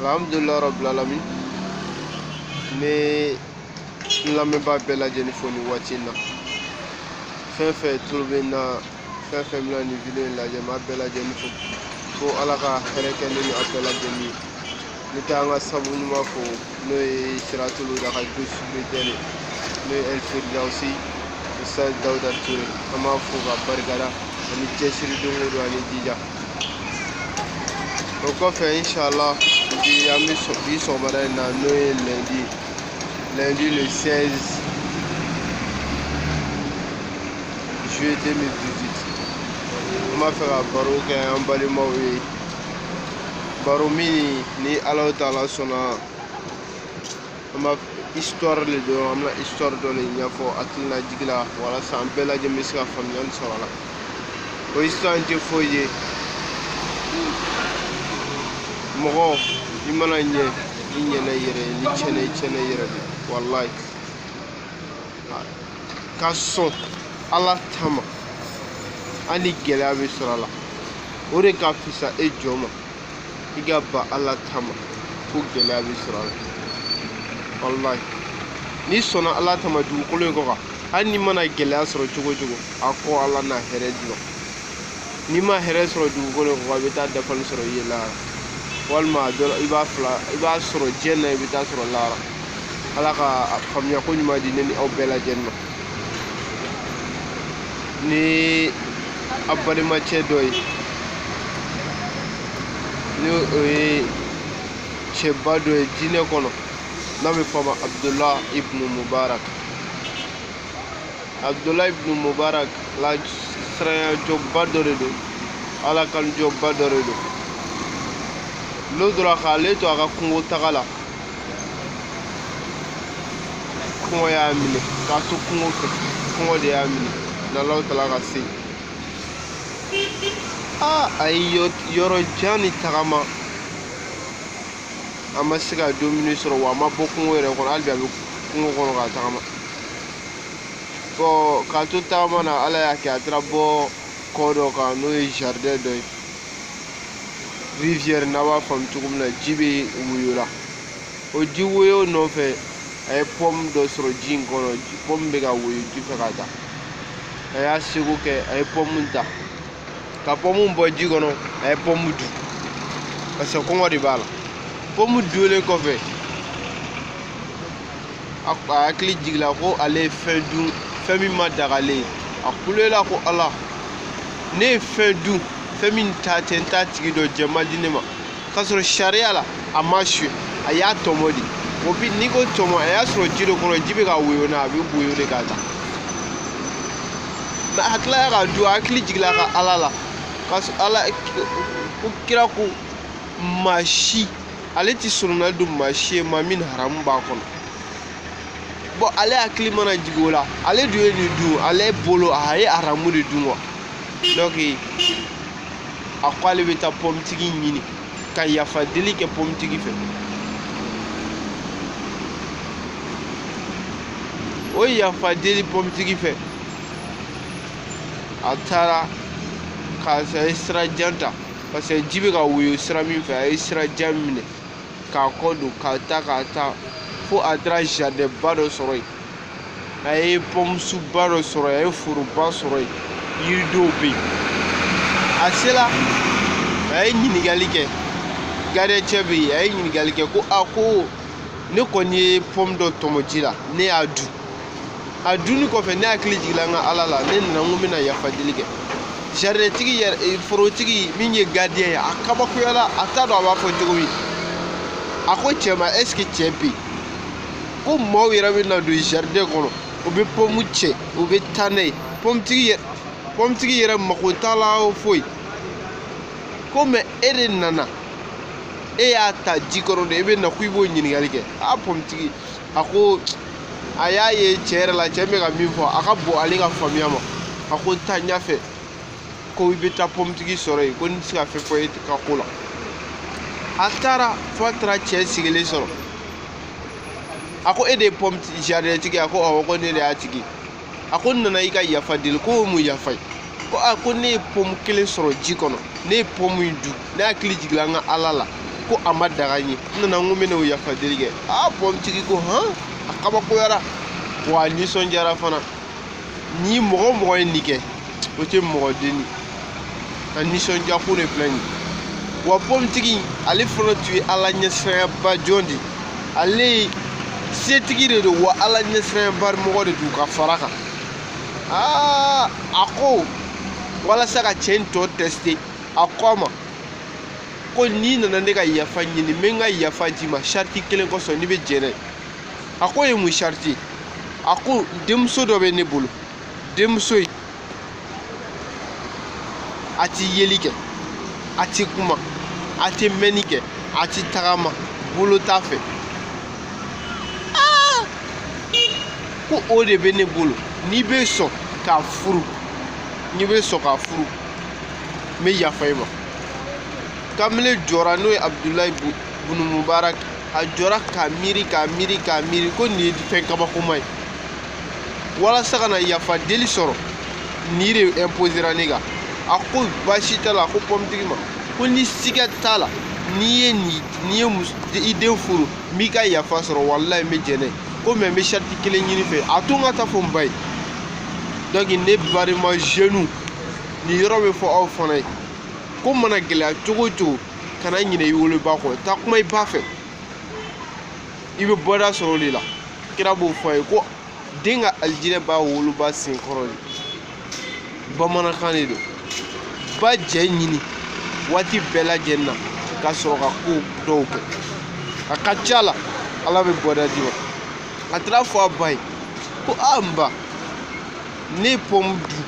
alhamdulilayi rabil alamin n bɛ n lamɛnbaa bɛɛ lajɛlen fo nin waati in na fɛn fɛn tulo bɛ n na fɛn fɛn bɛna nin video in lajɛ n b'a bɛɛ lajɛlen fo ko ala ka hɛrɛ kɛ ne ni aw bɛɛ lajɛlen ye n bɛ taa an ka sabu ɲuman fo n'o ye siratul huda ka distributeur n'o ye ɛlferdawusi ustaz dawuda ture an b'a fo ka barikada ani cɛsiri don o don ani jija o kɔfɛ inshala bi an bɛ bi sɔgɔmada in na n'o ye lundi lundi le 16 juillet 2018 an b'a fɛ ka baro kɛ an balimaw ye baro min ni alahu taala sɔnna a ma histoire le don an bɛna histoire dɔ le ɲɛfɔ hakilinajigi la walasa an bɛɛ lajɛlen bɛ se ka faamuyali sɔrɔ a la o histoire in tɛ foyi ye mɔgɔ i mana ɲɛ i ɲɛna i yɛrɛ ye n'i tiɲɛna i tiɲɛna i yɛrɛ de walayi ka sɔn ala ta ma hali gɛlɛya bɛ sɔrɔ a la o de ka fisa e jɔn ma i ka ban ala ta ma ko gɛlɛya bɛ sɔrɔ a la walayi n'i sɔnna ala ta ma dugukolo in kɔ kan hali n'i mana gɛlɛya sɔrɔ cogo o cogo a kɔ ala na hɛrɛ d'i ma n'i ma hɛrɛ sɔrɔ dugukolo in kɔ kan i bɛ t'a dafalen sɔrɔ i ye lahara walima a dɔ la i b'a fila i b'a sɔrɔ diɲɛ na i bɛ t'a sɔrɔ lahara ala ka faamuyako ɲuman di ne ni aw bɛɛ lajɛlen ma ni an balimacɛ dɔ ye ni o ye cɛba dɔ ye diinɛ kɔnɔ n'a bɛ fɔ a ma abudulayi ibnu mubarak abudulayi ibnu mubarak ala siranyajɔnba dɔ de don ala kanujɔnba dɔ de don lon dɔ la k'ale to a ka kungo taga la kɔngɔ y'a minɛ k'a to kungo fɛ kɔngɔ de y'a minɛ n'alahu taala ka se aa a ye yɔrɔ jan ni tagama a ma se ka dumuni sɔrɔ wa a ma bɔ kungo yɛrɛ kɔnɔ hali bi a bɛ kungo kɔnɔ ka tagama bon k'a to tagama na ala y'a kɛ a taara bɔ kɔ dɔ kan n'o ye jardin dɔ ye rivière n'a b'a faamu cogo min na ji bɛ woyo la o ji woyo nɔfɛ a ye pɔmu dɔ sɔrɔ ji in kɔnɔ pɔmu bɛ ka woyo ji fɛ ka taa a y'a seko kɛ a ye pɔmu ta ka pɔmu bɔ ji kɔnɔ a ye pɔmu dun parce que kɔngɔ de b'a la pɔmu dunlen kɔfɛ a hakili jigila ko ale ye fɛn dun fɛn min ma daga ale ye a kulela ko ala ne ye fɛn dun fɛn min ta tɛ n t'a tigi dɔn jɛ ma di ne ma k'a sɔrɔ sariya la a m'a suɲɛ a y'a tɔmɔ de o bi n'i ko tɔmɔ a y'a sɔrɔ ji de kɔnɔ ji bɛ ka woyo n'a a bɛ woyo de ka taa mɛ a tilala k'a dun a hakili jigila ka ala la ka ala ko kira ko maa si ale tɛ sorona don maa si ye maa min haramu b'a kɔnɔ bɔn ale hakili mana jigin o la ale dun ye nin dun ale bolo a ye haramu de dun wa donc a ko ale bɛ taa pɔmitigi ɲini ka yafa deli kɛ pɔmitigi fɛ o yafa deli pɔmitigi fɛ a taara ka a ye sira jan ta parce que ji bɛ ka woyo sira min fɛ a ye sira jan minɛ k'a kɔ don ka taa ka taa fo a taara jardin ba dɔ sɔrɔ yen a ye pɔmusun ba dɔ sɔrɔ yen a ye foroba sɔrɔ yen yiridenw bɛ yen a sela a ye ɲininkali kɛ gardiyɛncɛ bɛ yen a ye ɲininkali kɛ ko a ko ne kɔni ye pɔmu dɔ tɔmɔ ji la ne y'a dun a dunni kɔfɛ ne hakili jiginna n ka ala la ne nana n ko n bɛna yafa deli kɛ jaridɛntigi yɛrɛ eh, forotigi min ye gardiyɛn ye a kabakoyala a t'a dɔn a b'a fɔ cogo min a ko cɛ ma est-ce que cɛ bɛ yen ko maaw yɛrɛ bɛ na don jaridɛn kɔnɔ u bɛ pɔmu cɛ u bɛ taa n'a ye pɔmutigi yɛrɛ mako t'a la foyi ko mɛ e de nana e y'a ta ji kɔnɔ de e bɛ na ko i b'o ɲininkali kɛ a pɔmutigi a ko a y'a ye cɛ yɛrɛ la cɛ bɛ ka min fɔ a ka bon ale ka faamuya ma a ko taa ɲɛfɛ ko i bɛ taa pɔmutigi sɔrɔ yen ko n tɛ se ka fɛn fɔ e ka ko la a taara fo a taara cɛ sigilen sɔrɔ a ko e de ye pɔmu jaridɛntigi a ko awɔ ko ne de y'a tigi a ko n nana i ka yafa deli ko o mun yafa ye ko a ko ne ye pɔmu kelen sɔrɔ ji kɔnɔ ne ye pɔmu in dun ne hakili jigila n ka ala la ko a ma daga n ye n nana n ko n bɛ n'o yafa deli kɛ aa pɔmutigi ko hɔn a kabakoyara wa a nisɔndiyara fana ni mɔgɔ o mɔgɔ ye nin kɛ o tɛ mɔgɔ dennin ye a nisɔndiya ko de filɛ nin ye wa pɔmutigi ale fana tun ye ala ɲɛsiranyaba jɔn de ye ale ye setigi de don wa ala ɲɛsiranyaba mɔgɔ de don ka fara kan aa a ko walasa ka cɛ in tɔ tɛsite a ko a ma ko n'i nana ne ka yafa ɲini n bɛ n ka yafa d'i ma sariti kelen kosɔn n'i bɛ jɛnɛ a k'o ye mun sariti ye a ko denmuso dɔ bɛ ne bolo denmuso in a tɛ yeli kɛ a tɛ kuma a tɛ mɛnni kɛ a tɛ tagama bolo t'a fɛ ah! ko o de bɛ ne bolo n'i bɛ sɔn k'a furu n'i bɛ sɔn k'a furu n bɛ yafa i ma kamalen jɔra n'o ye abudulayi bunu mubarak a jɔra k'a miiri k'a miiri k'a miiri ko nin ye fɛn kabakoma ye walasa ka na yafa deli sɔrɔ nin de imposera ne kan a ko baasi t'a la a ko pɔmitigi ma ko ni siga t'a la ni n ye i den furu n b'i ka yafa sɔrɔ walayi n bɛ jɛn n'a ye ko mɛ n bɛ sariti kelen ɲini i fɛ a to n ka taa fɔ n ba ye donc ne balima jeunes nin yɔrɔ bɛ fɔ aw fana ye ko mana gɛlɛya cogo o cogo kana ɲinɛ i woloba kɔ taa kuma i ba fɛ i bɛ bɔda sɔrɔ o de la kira b'o fɔ a ye ko den ka alijinɛ b'a woloba sen kɔrɔ de bamanankan de don ba jɛ ɲini waati bɛɛ lajɛlen na ka sɔrɔ ka ko dɔw kɛ a ka ca la ala bɛ bɔda d'i ma a taara fɔ a ba ye ko a n ba ne ye pɔmu dun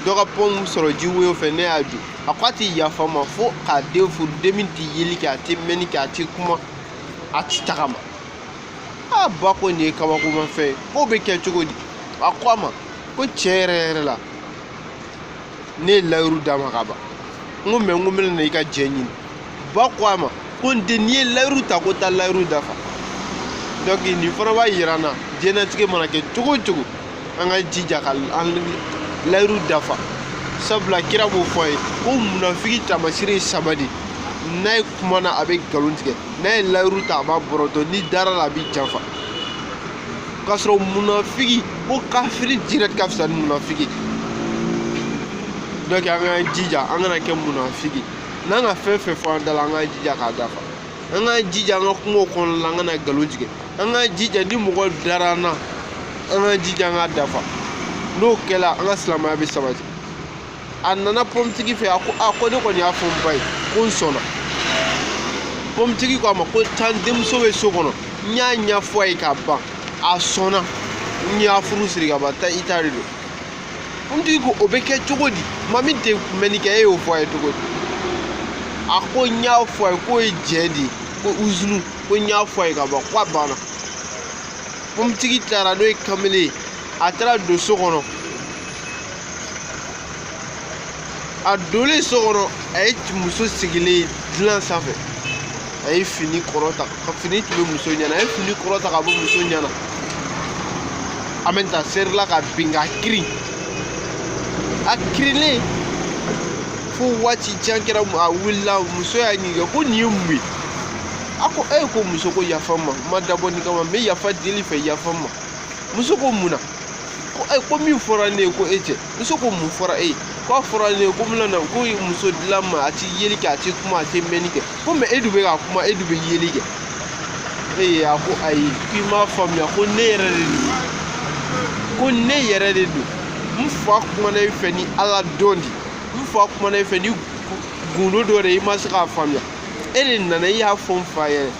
dɔ ka pɔmu sɔrɔ ji woyo fɛ ne y'a dun a ko a tɛ yafa n ma fo k'a den furu den min tɛ yeli kɛ a tɛ mɛnni kɛ a tɛ kuma a tɛ tagama a ba ko nin ye kabakomafɛn ye k'o bɛ kɛ cogo di a ko a ma ko tiɲɛ yɛrɛ yɛrɛ la ne ye layiru d'a ma ka ban n ko mɛ n ko n bɛna na i ka jɛ ɲini ba ko a ma ko n den n'i ye layiru ta ko taa layiru dafa donc nin fana b'a yira an na diɲɛlatigɛ mana kɛ cogo o cogo an ka jija ka an layiru dafa sabula kira b'o fɔ a ye ko munafiki taamasire ye saba de n'a ye kuma na a bɛ nkalon tigɛ n'a ye layiru ta a b'a bɔrɔtɔ n'i dara a la a b'i janfa k'a sɔrɔ munafigi ko kafiri direct ka fisa ni munafigi donc an k'an jija an kana kɛ munafigi n'an ka fɛn fɛn fɔ an da la an k'an jija k'a dafa an k'an jija an ka kumaw kɔnɔna la an kana nkalon tigɛ an k'an jija ni mɔgɔ dara an na an k'an jija an k'a dafa n'o kɛra an ka silamɛya bɛ sabati a nana pɔmutigi fɛ a ko a ko ne kɔni y'a fɔ n ba ye ko n sɔnna pɔmutigi ko a ma ko taa n denmuso bɛ so kɔnɔ n y'a ɲɛfɔ a ye ka ban a sɔnna n y'a furu siri ka ban taa i ta de don pɔmutigi ko o bɛ kɛ cogo di maa min tɛ mɛnni kɛ e y'o fɔ a ye cogo di a ko n y'a fɔ a ye k'o ye jɛ de ye ko uzunu ko n y'a fɔ a ye ka ban ko a banna pɔmutigi taara n'o ye kamalen ye a taara don so kɔnɔ a donlen so kɔnɔ a ye muso sigilen dilan sanfɛ a ye fini kɔrɔta ka fini tun bɛ muso ɲɛ na a ye fini kɔrɔta ka bɔ muso ɲɛ na a bɛ ta serila ka bin ka kirin a kirilen fo waati jan kɛra a wulila muso y'a ɲininka ko nin ye mun ye a ko e ko muso ko yafa n ma n ma dabɔ nin kama n bɛ yafa deli fɛ yafa n ma muso ko mun na ko ayi ko min fɔra ne ye ko e tɛ muso ko mun fɔra e ye ko a fɔra ne ye ko n bɛna na ko muso dila n ma a ti yeli kɛ a ti kuma a ti mɛnni kɛ ko mɛ e dun bɛ ka kuma e dun bɛ yeli kɛ e ye a ko ayi k'i m'a faamuya ko ne yɛrɛ de don ko ne yɛrɛ de don n fa kumana e fɛ ni ala dɔn di n fa kumana e fɛ ni gundo dɔ de i ma se k'a faamuya e de nana i y'a fɔ n fa yɛrɛ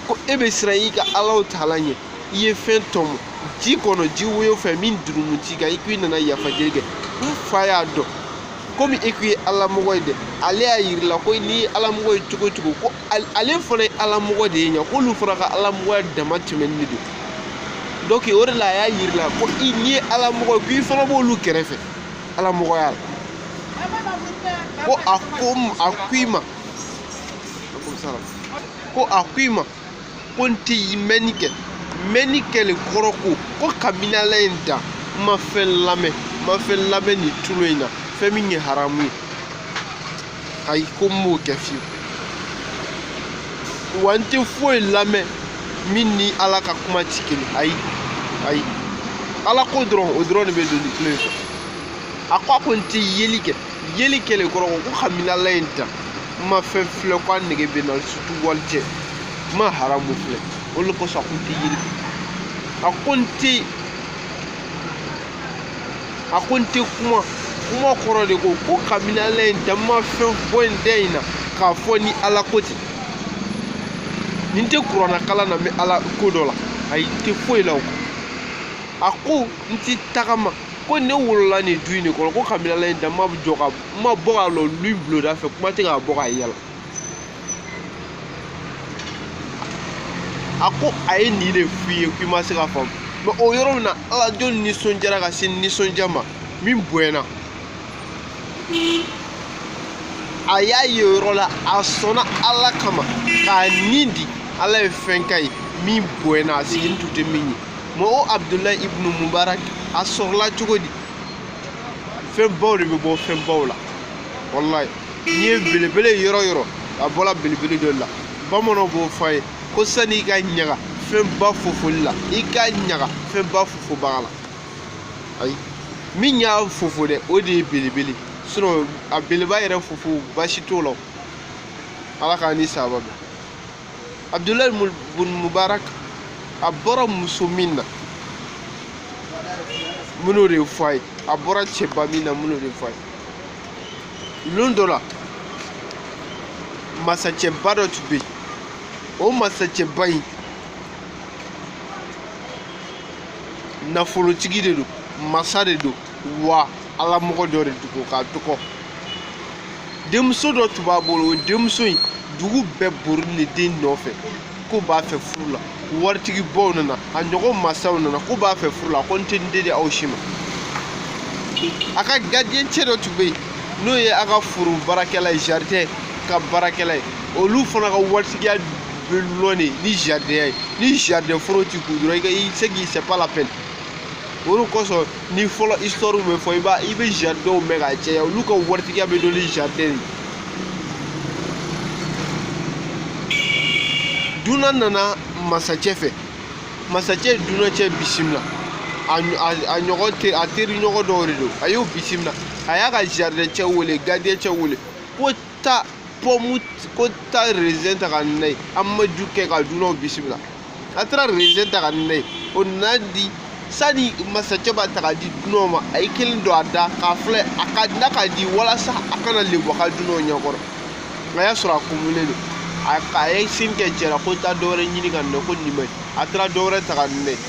ko e bɛ siran i ka ala taala ɲɛ i ye fɛn tɔmɔ ji kɔnɔ ji woyo fɛ min jurumu t'i kan i k'i nana yafa deli kɛ n fa y'a dɔn komi e k'i ye alamɔgɔ ye dɛ ale y'a yirila ko n'i ye alamɔgɔ ye cogo cogo ko ale fana ye alamɔgɔ de ye ɲa k'olu fana ka alamɔgɔya dama tɛmɛnen de don donc o de la a y'a yirila ko i n'i ye alamɔgɔ ye ko i fana b'olu kɛrɛfɛ alamɔgɔya la ko a ko a ko i ma ko a ko i ma ko n tɛ mɛnni kɛ mɛnni kɛlen kɔrɔ ko ko kabini ala ye n dan n ma fɛn lamɛn n ma fɛn lamɛn nin tulo in na fɛn min ye haramu ye ayi ko n m'o kɛ fiyewu wa n tɛ foyi lamɛn min ni ala ka kuma tɛ kelen ayi ayi ala ko dɔrɔn o dɔrɔn de bɛ don nin tulo in fɛ a ko a ko n tɛ yeli kɛ yeli kɛlen kɔrɔ ko kabini ala ye n dan n ma fɛn filɛ ko a nege bɛ n na surtout walicɛ n ma haramu filɛ o de kosɔn a ko n tɛ yeli kɛ a ko n tɛ a ko n tɛ kuma kuma kɔrɔ de ko ko kabini ala ye n dan n ma fɛn bɔ n da in na k'a fɔ ni ala ko tɛ ni n tɛ kurana kalan na n bɛ ala ko dɔ la ayi n tɛ foyi la o kɔ a ko n tɛ tagama ko ne wolola nin du in de kɔnɔ ko kabini ala ye n dan n ma jɔ ka n ma bɔ ka lɔ lu bulonda fɛ kuma tɛ ka bɔ ka yaala a ko a ye nin de f'i ye k'i ma se k'a faamu mɛ o yɔrɔ min na ala jɔn nisɔndiyara ka se nisɔndiya ma min bonyana a y'a ye o yɔrɔ la a sɔnna ala kama k'a nin di ala ye fɛn k'a ye min bonyana a sigilen tun tɛ min ye mɛ o abudulayi ibunu mubarak a sɔrɔla cogo di fɛnbaw de bɛ bɔ fɛnbaw la walayi n'i ye belebele yɔrɔ yɔrɔ a bɔra belebele dɔ la bamananw b'o fɔ a ye ko sani i ka ɲaga fɛnba fofoli la i ka ɲaga fɛnba fofobaga la ayi min y'a fofo dɛ o de ye belebele sinon a beleba yɛrɛ fofo baasi t'o la ala k'an ni sababu bɛn abdulahi bun mubarak a bɔra muso min na n bɛn'o de fɔ a ye a bɔra cɛba min na n bɛn'o de fɔ a ye lon dɔ la masacɛba dɔ tun bɛ yen o masacɛba in nafolotigi de don masa de don wa ala mɔgɔ dɔ de dugu ka dɔgɔ denmuso dɔ tun b'a bolo o denmuso in dugu bɛɛ borilen den nɔfɛ ko b'a fɛ furu la waritigi baw nana a ɲɔgɔn masaw nana ko b'a fɛ furu la a ko n tɛ n den di aw si ma a ka gardien cɛ dɔ tun bɛ yen n'o ye a ka foro baarakɛla ye jardin ka baarakɛla ye olu fana ka waritigiya bɛ lɔn de ni jardin ye ni jardin foro t'i kun dɔrɔn i ka i se k'i c'est pas la peine o de kosɔn ni fɔlɔ histoire bɛ fɔ i b'a i bɛ jardinw mɛn k'a caya olu ka waritigiya bɛ dɔn ni jardin dunan nana masacɛ fɛ masacɛ dunan cɛ bisimila a ɲɔgɔn teri a teri ɲɔgɔn dɔw de don a y'o bisimila a y'a ka jardin cɛ wele gardien cɛ wele ko taa pɔmu ko taa rezɛn ta ka na n'a ye an b'a jus kɛ ka dunanw bisimila a taara rezɛn ta ka na n'a ye o nana di sani masacɛ b'a ta ka di dunanw ma a ye kelen don a da k'a filɛ a ka n'a ka di walasa a kana lebu a ka dunanw ɲɛkɔrɔ a y'a sɔrɔ a kumunen don a ye signe kɛ cɛ la ko taa dɔwɛrɛ ɲini ka na ko nin ma ɲi a taara dɔwɛrɛ ta ka na n'a ye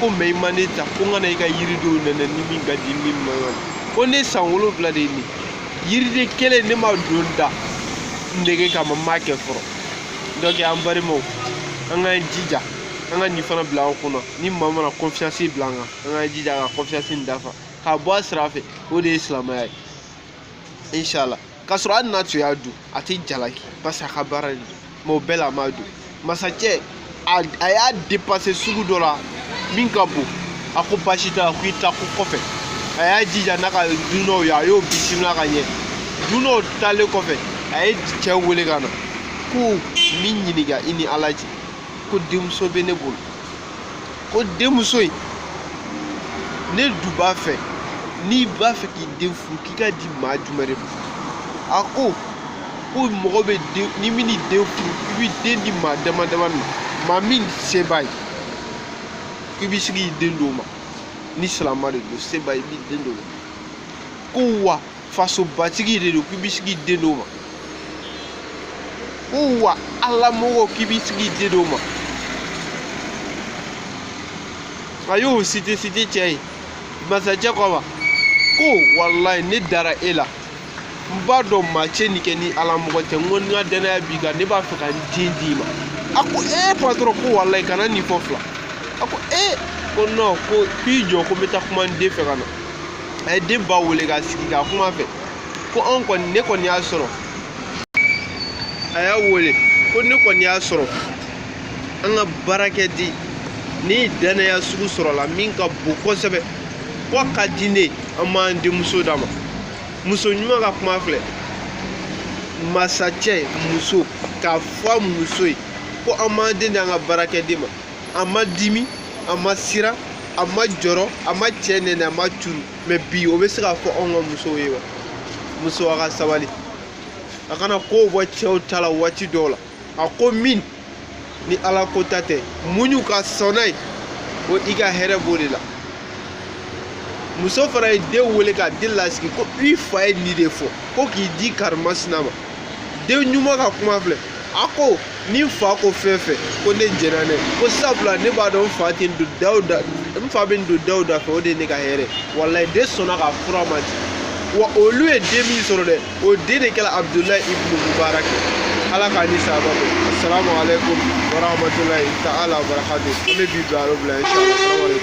ko mɛ i ma ne ta ko n ka na i ka yiridenw nɛnɛ ni min ka di min ma yɔrɔ ko ne san wolonwula de ye nin yiriden kelen ne m'a don n da nege kama n m'a kɛ fɔlɔ donc an balimaw an k'an jija an ka nin fana bila an kɔnɔ ni maa mana confiance bila an kan an k'an jija ka confiance nin dafa k'a bɔ a sira fɛ o de ye silamɛya ye inshallah k'a sɔrɔ hali n'a tun y'a dun a tɛ jalaki parce que a ka baara de don mɛ o bɛɛ la a m'a dun masacɛ a y'a dépassé sugu dɔ la min ka bon a ko baasi t'a la ko i ta ko kɔfɛ a y'a jija n'a ka dunɔw ye a y'o bisimila ka ɲɛ dunɔw taalen kɔfɛ a ye cɛ wele ka na ko n b'i ɲininka i ni ala cɛ ko denmuso bɛ ne bolo ko denmuso in ne dun b'a fɛ n'i b'a fɛ k'i den furu k'i k'a di maa jumɛn de ma a ko ko mɔgɔ bɛ den ni min den furu i bɛ den di maa dama dama ma maa min se b'a ye k'i bɛ se k'i den d'o ma ni silamɛ de don se b'a ye i b'i den d'o ma ko wa fasobatigi de don k'i bɛ se k'i den d'o ma ko wa ala mɔgɔ k'i bɛ se k'i den d'o ma a y'o site site cɛ ye masacɛ ko a ma ko walayi ne dara e la n b'a dɔn maa tɛ nin kɛ ni ala mɔgɔ tɛ n ko n ka dannaya b'i kan ne b'a fɛ ka n den d'i ma a ko ee patɔrɔn ko walayi kana nin fɔ fila a ko ee ko nɔn ko k'i jɔ ko n bɛ taa kuma n den fɛ ka na a ye den ba wele k'a sigi ka kuma fɛ ko anw kɔni ne kɔni y'a sɔrɔ a y'a wele ko ne kɔni y'a sɔrɔ an ka baarakɛden nin dannaya sugu sɔrɔla min ka bon kosɛbɛ ko a ka di ne an b'an denmuso d'a ma muso ɲuman ka kuma filɛ masacɛ muso k'a fɔ a muso ye ko an b'an den di an ka baarakɛden ma a ma dimi a ma siran a ma jɔrɔ a ma cɛ nɛnɛ a ma curu mɛ bi o bɛ se ka fɔ anw ka musow ye wa muso a ka sabali a kana kow bɔ cɛw ta la waati dɔw la a ko min ni ala ko ta tɛ muɲu ka sɔn n'a ye ko i ka hɛrɛ b'o de la muso fana ye den wele ka den lasigi ko i fa ye nin de fɔ ko k'i di karimasina ma den ɲuman ka kuma filɛ a ko ni n fa ko fɛn fɛn ko ne jɛnna n'a ye ko sabula ne b'a dɔn n fa tɛ n don da o da n fa bɛ n don da o da fɛ o de ye ne ka hɛrɛ walayi den sɔnna ka furu a ma ten wa olu ye den min sɔrɔ dɛ o den de kɛra abudulayi ibnu mubarak ala k'a ni saba bɛ asalamu aleykum warahmatulahi ta'ala wabarakatu an bɛ bi bila yɔrɔ bila inshallah